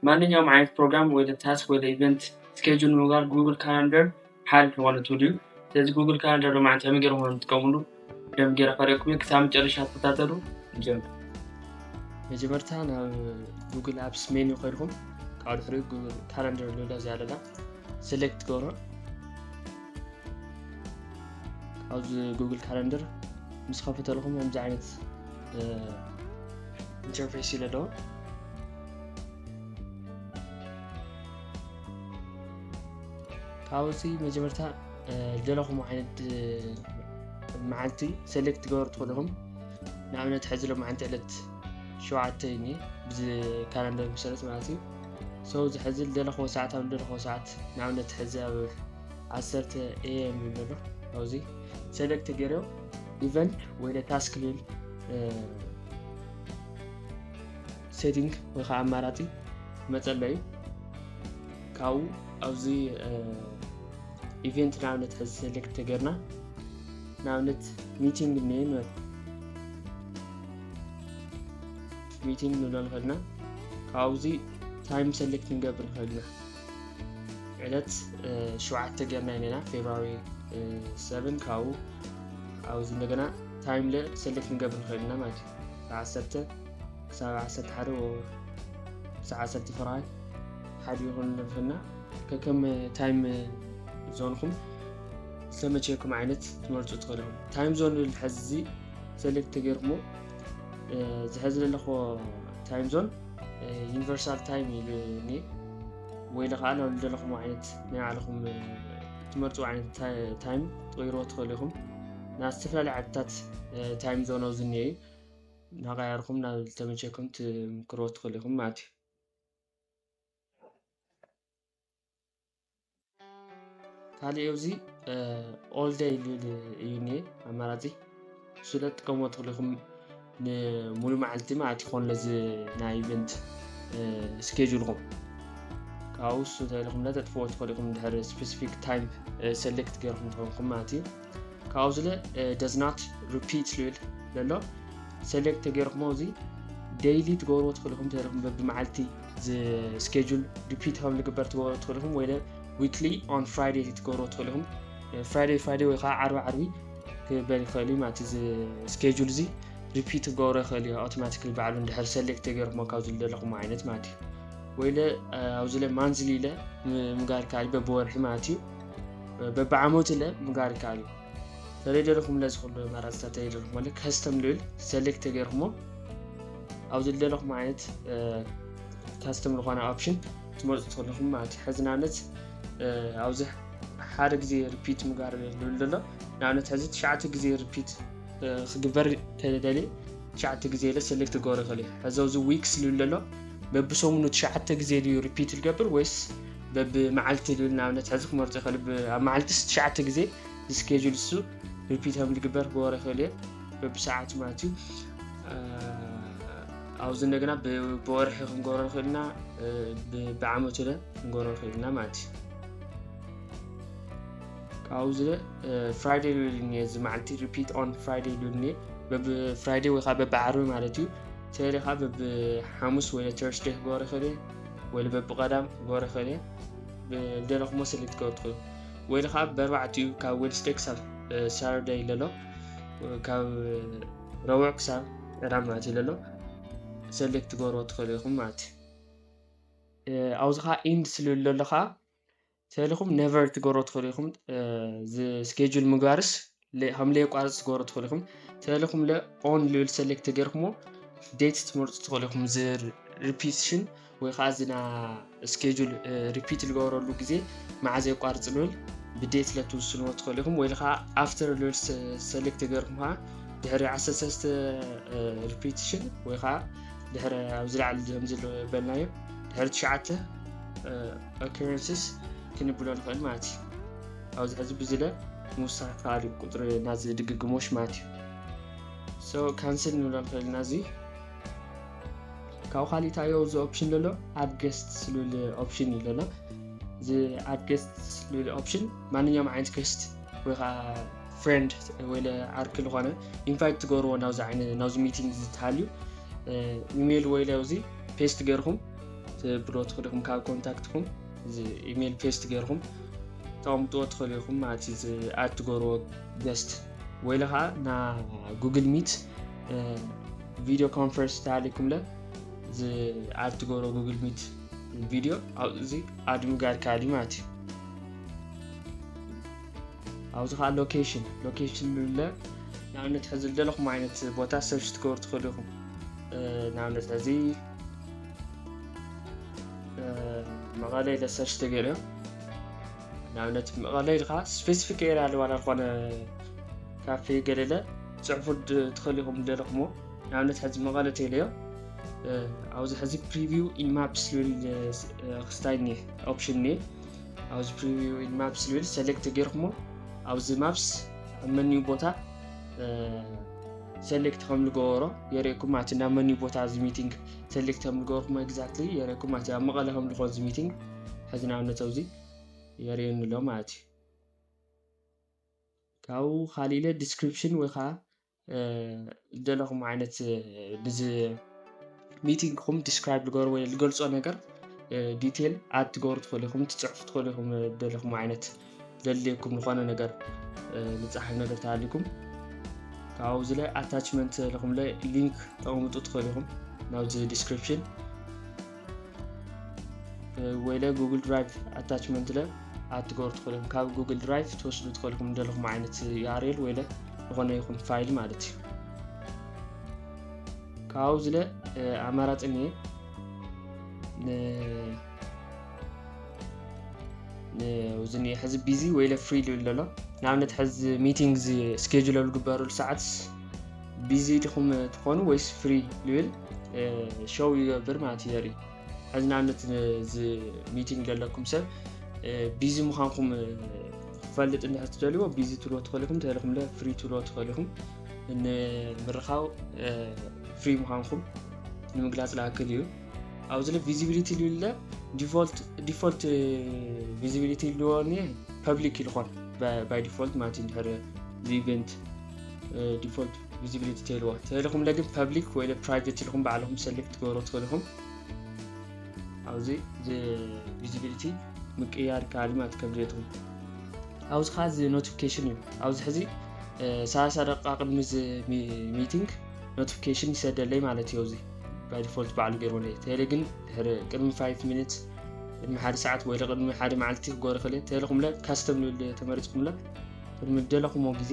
ማንኛውም ዓይነት ፕሮግራም ወደ ታስክ ወደ ኢቨንት ስኬጁል ንምግባር ጉግል ካላንደር ሓድ ዝኾነ ቱል እዩ ስለዚ ጉግል ካላንደር ሎማዓን ከመይ ገይረ ኾነ ትጥቀምሉ ደም ገይረ ከሪኩም እዩ ክሳብ መጨረሻ ተከታተሉ ንጀምር መጀመርታ ናብ ጉግል ኣፕስ ሜኑ ከድኩም ካብ ድሕሪ ጉግል ካላንደር ልብላ እዚኣ ኣለና ሴሌክት ትገብሮ ኣብዚ ጉግል ካላንደር ምስ ከፈተልኩም ከምዚ ዓይነት ኢንተርፌስ ኢለ ዶ ካብዚ መጀመርታ ዘለኹም ዓይነት መዓልቲ ሰሌክት ትገበሩ ትኽእልኹም ንኣብነት ሕዚ ሎ መዓልቲ ዕለት ሸውዓተ እኒ ብዚ ካላንደር መሰረት ማለት እዩ ሰው እዚ ሕዚ ዘለኽዎ ሰዓት ኣብ ዘለኽዎ ሰዓት ንኣብነት ሕዚ ኣብ ዓሰርተ ኤም ይብለሎ ኣብዚ ሰሌክት ገይረው ኢቨንት ወይ ታስክ ሊል ሴቲንግ ወይ ከዓ ኣማራፂ መፀለዩ ካብኡ ኣብዚ ኢቨንት ንኣብነት ሕዚ ሴሌክት ተገርና ንኣብነት ሚቲንግ እኒአ ንበል ሚቲንግ ንብሎ ንኽእልና ካብዚ ታይም ሴሌክት ንገብር ንኽእልና ዕለት ሸውዓተ ገርና ኢና ፌብራሪ ሰብን ካብኡ ኣብዚ እንደገና ታይም ለ ሰሌክት ክንገብር ንኽእል ኢና ማለት እዩ ብዓሰርተ ክሳብ ዓሰርተ ሓደ ክሳብ ዓሰርተ ፍርሃይ ሓደ ይኹን ንርክና ከከም ታይም ዞንኹም ዝተመቸየኩም ዓይነት ትመርፁ ትኽእሉ ታይም ዞን ሕዚ ሰሌክት ተገይርኩሞ ዝሕዚ ዘለኹዎ ታይም ዞን ዩኒቨርሳል ታይም እዩ እኔ ወይ ለኸዓ ናብ ልደለኹም ዓይነት ናይ ባዕልኹም ትመርፁ ዓይነት ታይም ትቕይሮ ትኽእሉ ኢኹም ናብ ዝተፈላለዩ ዓድታት ታይም ዞን ኣብዚ እኒኦ እዩ ናቀያርኹም ናብ ዝተመቸኩም ትምክሮ ትኽእሉ ኢኹም ማለት እዩ ካልእ ኣብዚ ኦል ደይ ዝብል እዩ እኒሀ ኣማራፂ እሱ ለ ትጥቀምዎ ትኽእሉ ኢኹም ንሙሉ መዓልቲ ማለት ይኾን ለዚ ናይ ኢቨንት ስኬጁልኹም ካብኡ እሱ ተልኹም ለ ተጥፍዎ ትኽእሉ ኢኹም ድሕሪ ስፔሲፊክ ታይም ሰሌክት ገይርኩም ተኾንኩም ማለት እዩ ካብኡ ዝለ ደዝናት ሪፒት ዝብል ዘሎ ሴሌክት ተገይርኩሞ እዚ ደይሊ ትገብርዎ ትኽእልኹም ተለኹም በብመዓልቲ ስኬጁል ሪፒት ከም ዝግበር ትገብሮ ትኽእልኹም ወይ ዊክሊ ኦን ፍራይዴ ትገብሮ ትኽእሉ ኢኹም ፍራይዴ ፍራይዴ ወይ ከዓ ዓርቢ ዓርቢ ክበል ይኽእል እዩ ማለት እዚ ስኬጁል እዚ ሪፒት ክገብሮ ይኽእል እዩ ኣውቶማቲካሊ ባዕሉ እንድሕር ሰሌክት ተገይርኩሞ ካብ ዝደለኹም ዓይነት ማለት እዩ ወይለ ኣብዚ ለ ማንዝሊ ኢለ ምግባር ከኣል በብወርሒ ማለት እዩ በብዓመቱ ለ ምጋር ይከኣል እዩ ተደለኹም ለ ዝኽሉ ኣማራፅታት ተደለኹም ማለት ከስተም ልብል ሰሌክት ተገይርኩሞ ኣብ ዝደለኹም ዓይነት ካስተም ዝኾነ ኦፕሽን ትመርፁ ትኽልኹም ማለት እዩ ሕዚ ንኣብነት ኣብዚ ሓደ ግዜ ሪፒት ምጋር ልብል ዘሎ ንኣብነት ሕዚ ትሽዓተ ግዜ ሪፒት ክግበር ተደልየ ትሽዓተ ግዜ ለ ሰሌክት ክገብሮ ይኽእል እዩ ሕዚ ኣብዚ ዊክስ ልብል ዘሎ በብሰሙኑ ትሽዓተ ግዜ ድዩ ሪፒት ዝገብር ወይስ በቢ መዓልቲ ልብል ንኣብነት ሕዚ ክመርፁ ይኸሉ ኣብ መዓልቲ ትሽዓተ ግዜ ዝስኬጁል እሱ ሪፒት ከም ዝግበር ክበሮ ይኸሉ እየ በቢ ሰዓቱ ማለት እዩ ኣብዚ እንደገና ብወርሒ ክንገብሮ ንኽእል ኢና ብዓመቱ ለ ክንገብሮ ንኽእል ኢና ማለት እዩ ካብዚ ለ ፍራይደ ልብል እኒ እዚ መዓልቲ ሪፒት ኦን ፍራይደ ልብል እኒ በብ ፍራይደ ወይ ከዓ በብ ዓርቢ ማለት እዩ ተለ ከዓ በብ ሓሙስ ወይ ተርስደ ክገብሮ ይኽእል እየ ወይለ በብቐዳም ክገብሮ ይኽእል እየ ብደለኹሞ ስሊ ክትገብሩ ትኽእሉ ወይለ ከዓ በርባዕቲኡ ካብ ዌድስደይ ክሳብ ሳተርደይ ለሎ ካብ ረቡዕ ክሳብ ዕዳ ማለት እዩ ለሎ ሰሌክት ትገብርዎ ትኽእሉ ኢኹም ማለት እዩ ኣብዚ ከዓ ኢንድ ስልሉ ለሎ ከዓ ተልኩም ነቨር ትገብሮ ትክእሉ ኢኹም ስኬጁል ምግባርስ ከም ለየቋርፅ ትገብሮ ትክእሉ ኢኹም ተልኩም ለ ኦን ልብል ሰሌክት ተገርኩሞ ዴት ትመርፁ ትክእሉ ኢኹም ሪፒቲሽን ወይ ከዓ ዝና ስኬጁል ሪፒት ዝገበረሉ ግዜ መዓዘ የቋርፅ ልብል ብዴት ለትውስንዎ ትክእሉ ኢኹም ወይ ከዓ ኣፍተር ልብል ሰሌክት ተገርኩም ከዓ ድሕሪ 13 ሪፒቲሽን ወይ ከዓ ድሕሪ ኣብ ዝለዓል ከምዚ በልናዮ ድሕሪ ትሽዓተ ኦከረንስስ ክንብሎ ንኽእል ማለት እዩ። ኣብዚ ሕዚ ብዝለ ምውሳኽ ይከኣል እዩ ቁፅሪ ናዚ ድግግሞሽ ማለት እዩ። ሶ ካንስል ንብሎ ንኽእል ኢና እዚ ካብኡ ካሊእ እንታይ እዚ ኦፕሽን ዘሎ ኣድ ገስት ዝብል ኦፕሽን እዩ ዘሎ እዚ ኣድ ገስት ዝብል ኦፕሽን ማንኛውም ዓይነት ገስት ወይ ከዓ ፍሬንድ ወይ ዓርኪ ዝኾነ ኢንቫይት ትገብርዎ ናብዚ ሚቲንግ ዝተሃልዩ ኢሜይል ወይ ኣብዚ ፔስት ገርኩም ክትብሎ ትኽእሉ ኢኹም ካብ ኮንታክትኩም እዚ ኢሜል ፔስት ገይርኩም ተቐምጥዎ ትኽእሉ ኢኹም ማለት እዩ ዝኣድ ትገብርዎ ገስት ወይለ ከዓ ና ጉግል ሚት ቪድዮ ኮንፈረንስ ተሃሊኩምለ ዝኣድ ትገብርዎ ጉግል ሚት ቪድዮ ኣብዚ ኣድ ምግባር ከኣል እዩ ማለት እዩ ኣብዚ ከዓ ሎኬሽን ሎኬሽን ንብለ ንኣብነት ሕዚ ዝደለኹም ዓይነት ቦታ ሰርች ትገብሩ ትኽእሉ ኢኹም ንኣብነት ሕዚ መቐለ ኢለ ሰርች ተገይሩ እዮም ንኣብነት መቐለ ኢልካ ስፔሲፊክ ኤርያ ኣለዋ ዝኾነ ካፌ ገለለ ፅሑፉ ትኽእል ኢኹም ደለኹሞ ንኣብነት ሕዚ መቐለ ቴለዮ ኣብዚ ሕዚ ፕሪቪው ኢንማፕስ ዝብል ክስታይ እኒአ ኦፕሽን እኒአ ኣብዚ ፕሪቪው ኢንማፕስ ዝብል ሰሌክት ተገይርኩሞ ኣብዚ ማፕስ ኣብ መኒው ቦታ ሰሌክት ከም ዝገበሮ የርእኩም ማለት ናብ መን እዩ ቦታ እዚ ሚቲንግ ሰሌክት ከም ዝገበርኩም ኤግዛክትሊ የርእኩም ማለት ኣብ መቐለ ከም ዝኾን እዚ ሚቲንግ ሕዚ ንኣብነት ኣብዚ የርእየኒ ኣሎ ማለት እዩ ካብኡ ካሊእ ኢለ ዲስክሪፕሽን ወይ ከዓ ዝደለኹም ዓይነት ሚቲንግ ኹም ዲስክራይብ ልገሩ ወይ ልገልጾ ነገር ዲቴል ኣድ ትገብሩ ትኽእሉ ኢኹም ትፅሕፉ ትኽእሉ ኢኹም ደለኹም ዓይነት ዘድልየኩም ዝኾነ ነገር ልፀሓፍ ነገር ተሃሊኩም ካብኡ እዚ ላይ ኣታችመንት ለኹም ላይ ሊንክ ተቐምጡ ትኽእሉ ኢኹም ናብዚ ዲስክሪፕሽን ወይ ለ ጉግል ድራይቭ ኣታችመንት ለ ኣትገብሩ ትኽእሉ ኢኹም ካብ ጉግል ድራይቭ ትወስዱ ትኽእሉ ኢኹም ደለኹም ዓይነት ዩኣርኤል ወይ ለ ዝኾነ ይኹም ፋይል ማለት እዩ ካብኡ ዝለ ኣማራፂ እየ እዚ ሕዚ ቢዚ ወይለ ፍሪ ሉ ኣሎ ንኣብነት ሕዚ ሚቲንግ ስኬጁል ዝግበረሉ ሰዓት ቢዚ ድኹም ትኾኑ ወይስ ፍሪ ልብል ሸው ይገብር ማለት እዩ የርኢ ሕዚ ንኣብነት እዚ ሚቲንግ ዘለኩም ሰብ ቢዚ ምዃንኩም ክፈልጥ እንድሕር ትደልዎ ቢዚ ትብልዎ ትኽእሉ ኢኹም እንተኢልኩም ለ ፍሪ ትብልዎ ትኽእሉ ኢኹም ንምርኻው ፍሪ ምዃንኩም ንምግላፅ ዝኣክል እዩ ኣብዚ ለ ቪዚቢሊቲ ልብለ ዲፎልት ቪዚቢሊቲ ልዎ ፐብሊክ ይልኾን ባይ ዲፎልት ማለት እዩ ድሕር እዚ ኢቨንት ዲፎልት ቪዚቢሊቲ ትህልዎ ተልኹም ለግን ፐብሊክ ወይ ፕራይቬት ኢልኹም ባዕልኹም ሰሌክት ትገብሮ ትኽእሉ ኢኹም ኣብዚ ቪዚቢሊቲ ምቅያር ከኣል ማለት ከም ድሌትኩም ኣብዚ ከዓ እዚ ኖቲፊኬሽን እዩ ኣብዚ ሕዚ ሰላሳ ደቂቃ ቅድሚ እዚ ሚቲንግ ኖቲፊኬሽን ይሰደለይ ማለት እዩ እዚ ባይ ዲፎልት ባዕሉ ገይርዎለይ ተለ ግን ድሕሪ ቅድሚ 5 ሚኒት ቅድሚ ሓደ ሰዓት ወይ ቅድሚ ሓደ መዓልቲ ክገብሮ ክእል ተለኹምለ ካስተም ዝብል ተመሪፅኩምለ ቅድሚ ደለኹሞ ግዜ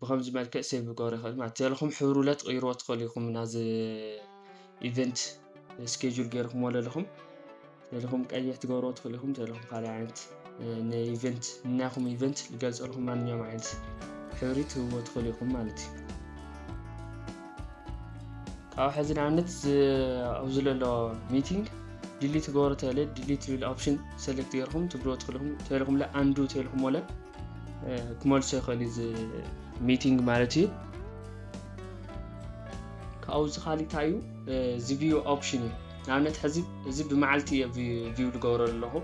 ብከምዚ መልክዕ ሴቭ ክገብሮ ይኽእል ማለት ዘለኹም ሕብሩ ለ ትቕይርዎ ትኽእሉ ኢኹም ናዚ ኢቨንት ስኬጁል ገይርኩምዎ ዘለኹም ዘለኹም ቀይሕ ትገብርዎ ትኽእሉ ኢኹም ዘለኹም ካልእ ዓይነት ንኢቨንት ንናይኹም ኢቨንት ዝገልፀልኩም ማንኛውም ዓይነት ሕብሪ ትህብዎ ትኽእሉ ኢኹም ማለት እዩ ካብ ሕዚ ንኣብነት ኣብዚ ዘሎ ሚቲንግ ዲሊት ትገብሮ ተለ ዲሊት ዝብል ኦፕሽን ሰሌክት ገይርኩም ትብልዎ ትኽእልኹም ተልኹምለ ኣንዱ ተልኹምለ ክመልሶ ይኽእል እዩ እዚ ሚቲንግ ማለት እዩ ካብኡ ዝካሊ እንታይ እዩ እዚ ቪዩ ኦፕሽን እዩ ንኣብነት ሕዚ እዚ ብመዓልቲ እየ ቪዩ ዝገብሮ ኣለኹ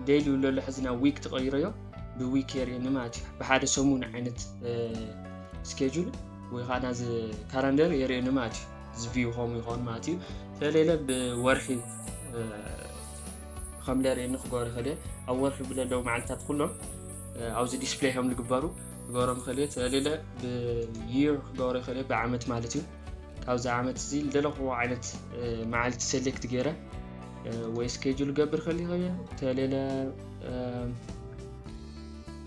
ደይሊ ለሎ ሕዚ ናብ ዊክ ተቐይሮ እዮ ብዊክ የርእየኒ ማለት እዩ ብሓደ ሰሙን ዓይነት ስኬጁል ወይ ከዓ ናዚ ካላንደር የርእየኒ ማለት እዩ እዚ ቪዩ ከምኡ ይኸውን ማለት እዩ ስለሌለ ብወርሒ ከም ለርይ ንክገሩ ከደ ኣብ ወርሒ ብለለው መዓልታት ኩሎም ኣብዚ ዲስፕሌይ ከም ዝግበሩ ክገሮም ከልየ ተለለ ብይር ክገሩ ከደ ብዓመት ማለት እዩ ካብዚ ዓመት እዚ ዝደለኹዎ ዓይነት መዓልቲ ሴሌክት ገይረ ወይ ስኬጁል ገብር ከልየ ከየ ተለለ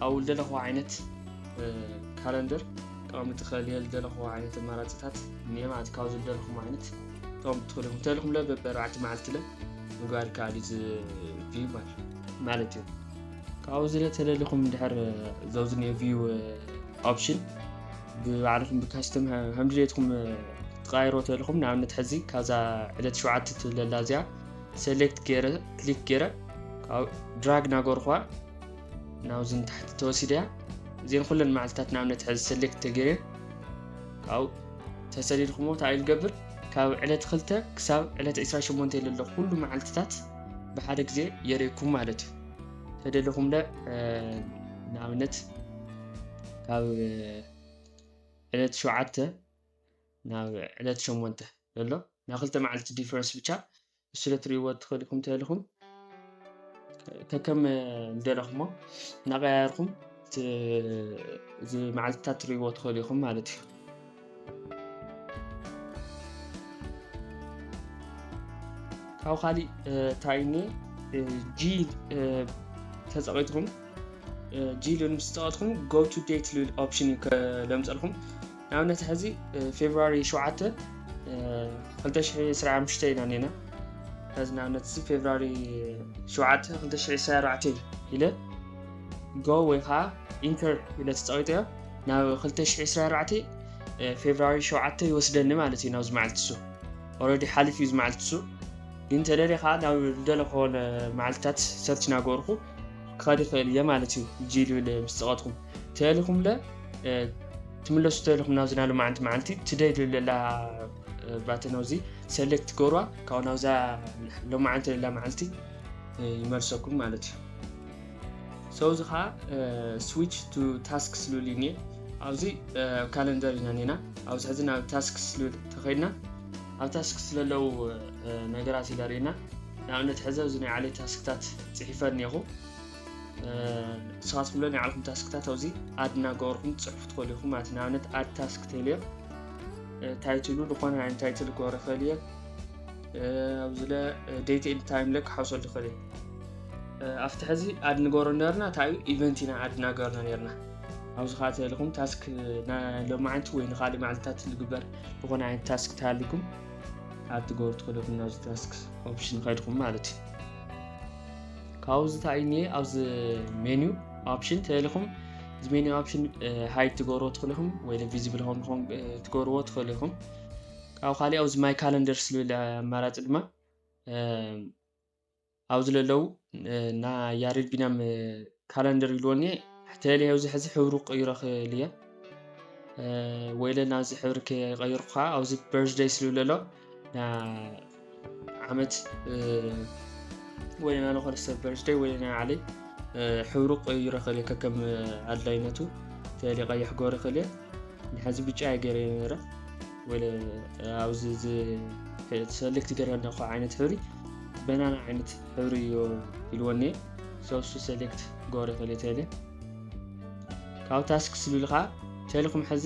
ኣብ ዝደለኹዎ ዓይነት ካለንደር ጠቐምቲ ከልየ ዝደለኹዎ ዓይነት ኣማራፅታት እኒአ ማለት ካብዚ ዝደለኹም ዓይነት ጠቐምቲ ከልኹም ተልኹም ለ በበ ኣርባዕተ መዓልቲ ለ ምግባር ይከኣል እዩ ዝቪዩ ማለት እዩ ካብኡ ዝለ ተደሊኹም ድሕር ዘውዝኒ ቪዩ ኦፕሽን ብባዕልኹም ብካስተም ከምድሌትኩም ክትቃይሮ ተልኹም ንኣብነት ሕዚ ካብዛ ዕለት ሸዓት ትብለላ እዚኣ ሰሌክት ገይረ ክሊክ ገይረ ድራግ ናገርኳ ናብዚ ንታሕቲ ተወሲደያ እዚን ኩለን መዓልትታት ንኣብነት ሕዚ ሰሌክት ተገይረን ካብኡ ተሰሊልኩሞ እንታይ ልገብር ካብ ዕለት ክልተ ክሳብ ዕለት 28 ለሎ ኩሉ መዓልትታት ብሓደ ግዜ የርእኩም ማለት እዩ ተደለኹም ለ ንኣብነት ካብ ዕለት ሸውዓተ ናብ ዕለት ሸሞንተ ዘሎ ናይ ክልተ መዓልቲ ዲፈረንስ ብቻ እሱ ዶ ትርእይዎ ትኽእሉ ኢኹም እንተኢልኩም ከከም ዝደለኹሞ እናቐያየርኩም እዚ መዓልትታት ትርእይዎ ትኽእሉ ኢኹም ማለት እዩ ካብ ካሊእ እንታይ እኒ ጂል ተፀቒጥኩም ጂል ምስ ፀቐጥኩም ጎ ቱ ዴት ልብል ኦፕሽን እዩ ለምፀልኩም ንኣብነት ሕዚ ፌብርዋሪ ሸውዓተ ክልተ ሽሕ ዕስራን ሓሙሽተን ኢና እኒኤና ሕዚ ንኣብነት እዚ ፌብርዋሪ ሸውዓተ ክልተ ሽሕ ዕስራን ኣርባዕተን ኢለ ጎ ወይ ከዓ ኢንተር ኢለ ተፀቒጠዮ ናብ ክልተ ሽሕ ዕስራን ኣርባዕተን ፌብርዋሪ ሸውዓተ ይወስደኒ ማለት እዩ ናብዚ መዓልቲ እሱ ኦልሬዲ ሓሊፍ እዩ ዝመዓልቲ እሱ ግን ተደልየ ከዓ ናብ ዝደለኹዎ መዓልትታት ሰርች እናገበርኩ ክኸድ ይኽእል እየ ማለት እዩ ጂልብል ምስ ፀቐጥኩም ተልኹምለ ትምለሱ ተልኹም ናብዚ ናሉ መዓንቲ መዓልቲ ትደልዩ ለላ ባተን ኣዚ ሰሌክት ገርዋ ካብኡ ናብዛ ሎመዓንቲ ለላ መዓልቲ ይመልሰኩም ማለት እዩ ሰው እዚ ከዓ ስዊች ቱ ታስክ ስሉል እዩ ኣብዚ ካለንደር ኢና ኔና ኣብዚ ሕዚ ናብ ታስክ ስሉል ተኸድና ኣብ ታስክ ስለለው ነገራት ይለርእና ንኣብነት ሕዘ እዚ ናይ ዓለይ ታስክታት ፅሒፈ እኒኹ ንስኻት ብሎ ናይ ዓልኹም ታስክታት ኣዚ ኣድ እናገበርኩም ትፅሕፉ ትኽእሉ ኢኹም ማለት ንኣብነት ኣድ ታስክ ተልዮ ታይትሉ ዝኾነ ናይ ታይትል ክገብረ ይኽእል እየ ኣብዚለ ዴት ኤንድ ታይም ለ ክሓውሰሉ ይኽእል እየ ኣብቲ ሕዚ ኣድ ንገበሮ ነርና እንታይ እዩ ኢቨንት ኢና ኣድ እናገበርና ነርና ኣብዚ ከዓ ተልኹም ታስክ ሎሚ ዓንቲ ወይ ንካልእ መዓልትታት ዝግበር ዝኾነ ዓይነት ታስክ ተሃልኩም ኣብ ትገብሩ ትኽእሉ ኢኹም ናብዚ ታስክ ኦፕሽን ከድኹም ማለት እዩ ካብኡ ዝታይ እኒ ኣብዚ ሜንዩ ኦፕሽን ተልኹም እዚ ሜንዩ ኦፕሽን ሃይድ ትገብርዎ ትኽእሉ ኢኹም ወይ ቪዚብል ሆም ሆም ትገብርዎ ትኽእሉ ኢኹም ካብኡ ካሊእ ኣብዚ ማይ ካለንደር ዝብል ኣማራፂ ድማ ኣብዚ ለለው እና ያሬድ ቢናም ካለንደር ይልዎኒ ሕተለ ኣብዚ ሕዚ ሕብሩ ቀይሮ ክእል እየ ወይለ ናብዚ ሕብሪ ከይቀይርኩ ከዓ ኣብዚ በርዝደይ ስልብለሎ ዓመት ወለና ንኮርሰ በርዝደይ ወለና ዓለይ ሕብሩ ቀይሮ ክእል ከከም ኣድላይነቱ ተሊ ቀይሕ ጎሪ ክእል ንሓዚ ብጫ የገይረ ነረ ወለ ኣብዚ ሰልክቲ ገረ ነኳ ዓይነት ሕብሪ በናና ዓይነት ሕብሪ እዮ ኢልወኒ ሰብሱ ሰሌክት ጎሪ ክእል ተሊ ካብ ታስክ ስልልካ ተልኩም ሕዚ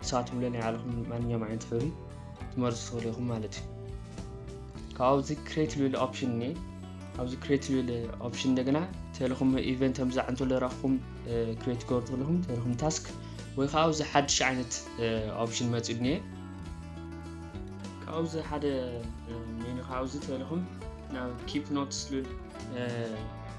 ንስኻትኩም ለ ናይ ባዕልኹም ማንኛውም ዓይነት ሕብሪ ትመርፁ ትኽእሉ ኢኹም ማለት እዩ ካብ ኣብዚ ክሬት ልብል ኦፕሽን እኒ ኣብዚ ክሬት ልብል ኦፕሽን እንደገና ተልኹም ኢቨንት ከምዛ እንተሎ ረኽኹም ክሬት ክገብሩ ትኽእልኹም ተልኹም ታስክ ወይ ከዓ ኣብዚ ሓድሽ ዓይነት ኦፕሽን መፅኡ እኒየ ካብዚ ሓደ ሜኑ ካብዚ ተልኹም ናብ ኪፕ ኖትስ ልብል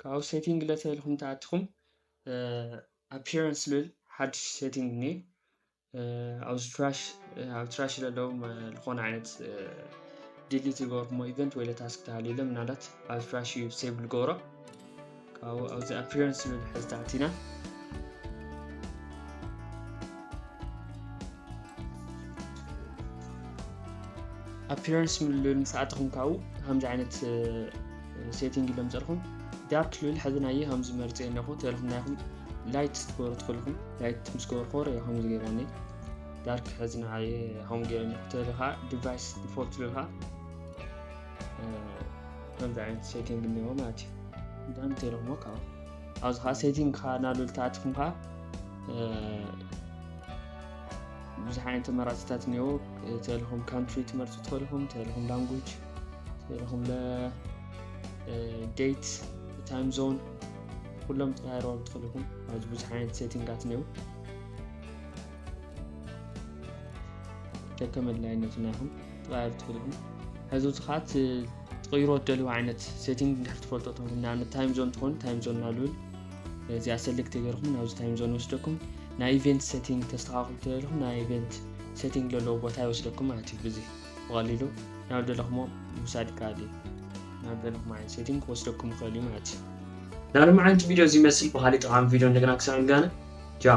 ካብኡ ሴቲንግ ለተ ኢልኩም ተኣትኹም ኣፒራንስ ልብል ሓድሽ ሴቲንግ እኒ ኣብዚ ትራሽ ኣብ ትራሽ ለለው ዝኾነ ዓይነት ዲሊት ዝገበርኩሞ ኢቨንት ወይ ለታስክ ተሃልዩ ለ ምናልባት ኣብ ትራሽ እዩ ሴብል ገብሮ ካብኡ ኣብዚ ኣፒራንስ ልብል ሕዚ ተኣቲና ኣፒራንስ ልብል ምስ ኣተኹም ካብኡ ከምዚ ዓይነት ሴቲንግ ኢሎም ፀርኹም ዳርክ ልብል ሕዚ ናየ ከምዚ መርፀ ኣለኹ ተለኹም ናይኹም ላይት ትገብሩ ትፈልኹም ላይት ምስ ገበሩ ኮረ ከምዚ ገይረኒ ዳርክ ሕዚ ንዓየ ከምኡ ገይረኒ ተለ ከዓ ዲቫይስ ዲፎልት ልብል ከዓ ከምዚ ዓይነት ሴቲንግ እኒኦ ማለት እዩ ዳን ተለኹሞ ካብኡ ኣብዚ ከዓ ሴቲንግ ከዓ ናብል ተኣትኹም ከዓ ብዙሕ ዓይነት ተመራፅታት እኒኦ ተለኹም ካንትሪ ትመርፁ ተለኹም ተለኹም ላንጉጅ ተለኹም ዴት ታይም ዞን ኩሎም ተሃይረዋሉ ተለኹም ኣብዚ ብዙሕ ዓይነት ሴቲንጋት እኒኦ ደከም ኣድላይነት ናይኹም ተቐያሩ ትኽእልኹም ሕዚ እቲ ከዓ ትቕይሮ ትደልዩ ዓይነት ሴቲንግ እንድሕር ትፈልጦ ትኹን ንኣብነት ታይም ዞን ትኾን ታይም ዞን ናልብል እዚኣ ሰልክት ተገርኩም ናብዚ ታይም ዞን ይወስደኩም ናይ ኢቨንት ሰቲንግ ተስተኻኽሉ ተደለኹም ናይ ኢቨንት ሰቲንግ ዘለዎ ቦታ ይወስደኩም ማለት እዩ ብዚ ብቐሊሉ ናብ ደለኹሞ ምውሳድ ይከኣል እዩ ናብ ደለኹም ዓይነት ሰቲንግ ክወስደኩም ይኽእል እዩ ማለት እዩ ናሎም ዓይነት ቪድዮ እዚ ይመስል ብካሊእ ጠቃሚ ቪድዮ እንደገና ክሳብ ንጋነ ጃ